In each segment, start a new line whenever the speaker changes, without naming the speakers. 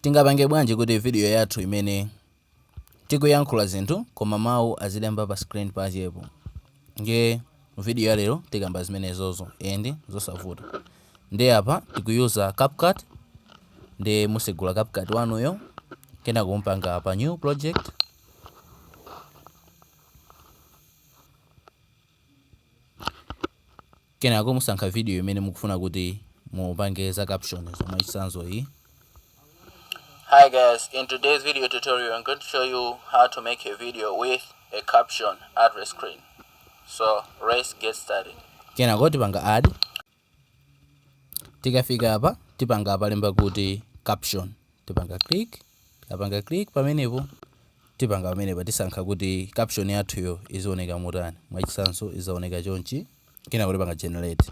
Tingapange bwanji kuti video yathu imene tikuyankhula zinthu koma mawu azilemba pa screen pachepo ndiye mu video ya lero tikamba zimenezozo and zosavuta ndiye apa tikuyuza CapCut ndiye musegula CapCut wanuyo kenako mupanga pa new project Kenako musankha vidiyo imene mukufuna kuti mupange za caption za mwachitsanzo iyi.
Hi guys, in today's video tutorial I'm going to show you how to make a video with a caption at the screen. So let's get started. Kenako tipanga
add. tikafika apa tipanga apalemba kuti caption tipanga click tikapanga click pamenepo tipanga pamenepa tisankha kuti caption yathuyo izioneka motani mwachisanso izaoneka chonchi kenako tipanga generate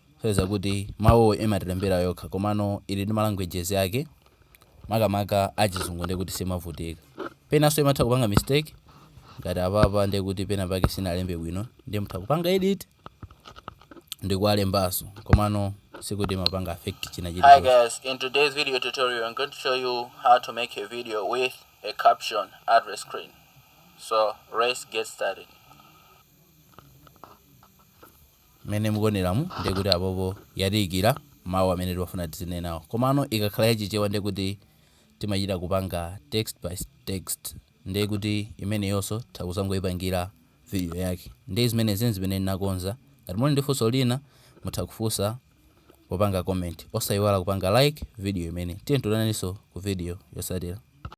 Chodziwa kuti mawuwo imatilembera yokha komano ili ndi ma languages ake makamaka achizungu ndekuti simavutika. Penanso imatha kupanga mistake ngati apapa ndekuti pena pake sinalembe bwino ndiye mutha kupanga edit ndikuwalembanso komano sikuti imapanga affect china chilichonse. Hi guys, in
today's video tutorial I'm going to show you how to make a video with a caption at the screen. So let's get started.
mmene mukuoneramu ndiye kuti apopo yatiikira mawu amene timafuna tizinenawo komano ikakhala ya chichewa ndiye kuti timachita kupanga text by text ndiye kuti imeneyonso titha kuzangoipangira video yake ndiye zimenezi nzimene ndinakonza ngati muli ndi funso lina mutha kufunsa popanga comment osaiwala kupanga like video imeneyi tionananso ku video yotsatira